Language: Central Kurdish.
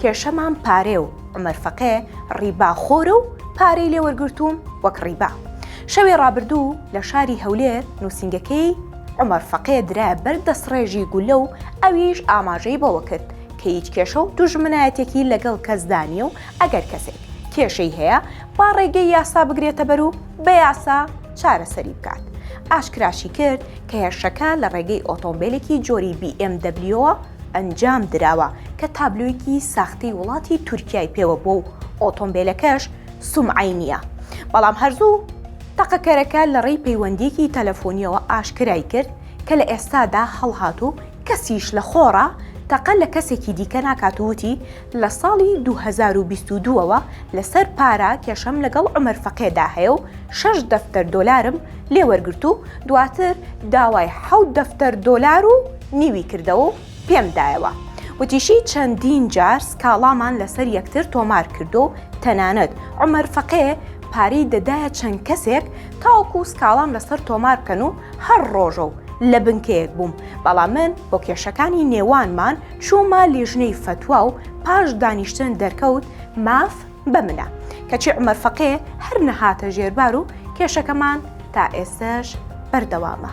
کێشەمان پارەیە و عومەر فەقێ ڕیبا خۆرە و پارەی لێ وەرگرتووم وەک ڕیبا. شەوی ڕابردوو لە شاری هەولێر نووسینگەکەی عومەر فەقێ درا بەر دەستڕێژی گولە و ئەویش ئاماژەی بەوە کرد کە هیچ کێشە و دوژمنایەتێکی لەگەڵ کەسدا نییە و ئەگەر کەسێک کێشەی هەیە با ڕێگەی یاسا بگرێتەبەر و بە یاسا چارەسەری بکات. ئاشکراشی کرد کە هێرشەکە لە ڕێگەی ئۆتۆمبێلێکی جۆری بیئێمدەبلیۆوە ئەنجام دراوە کە تابلۆیەکی ساختەی وڵاتی تورکیای پێوە بووە و ئۆتۆمبێلەکەش سومعەی نییە، بەڵام هەر زوو تەقەکەرەکە لە ڕێی پەیوەندییەکی تەلەفۆنییەوە ئاشکرای کرد کە لە ئێستادا هەڵهات و کەسیش لە خۆڕا تەقە لە کەسێکی دیکە ناکات و وتی، لە ساڵی دوو هەزار و بیست و دوو ەوە لەسەر پارە کێشەم لەگەڵ عومەر فەقێدا هەیە و شەش دەفتەر دۆلارم لێ وەرگرت و دواتر داوای حەوت دەفتەر دۆلار و نیوی کردەوە و پێم دایەوە. وتیشی چەندین جار سکاڵامان لەسەر یەکتر تۆمار کردووە و تەنانەت عومەر فەقێ پارەی دەدایە چەند کەسێک تاوەکو سکاڵام لەسەر تۆمار بکەن و هەر ڕۆژە و لە بنکەیەک بووم بەڵام من بۆ کێشەکانی نێوانمان چوومە لیژنەی فەتوا و پاش دانیشتن دەرکەوت ماف بە منە کەچی عمەر فەقێ هەر نەهاتە ژێربار و کێشەکەمان تا ئێستش بەردەوامە.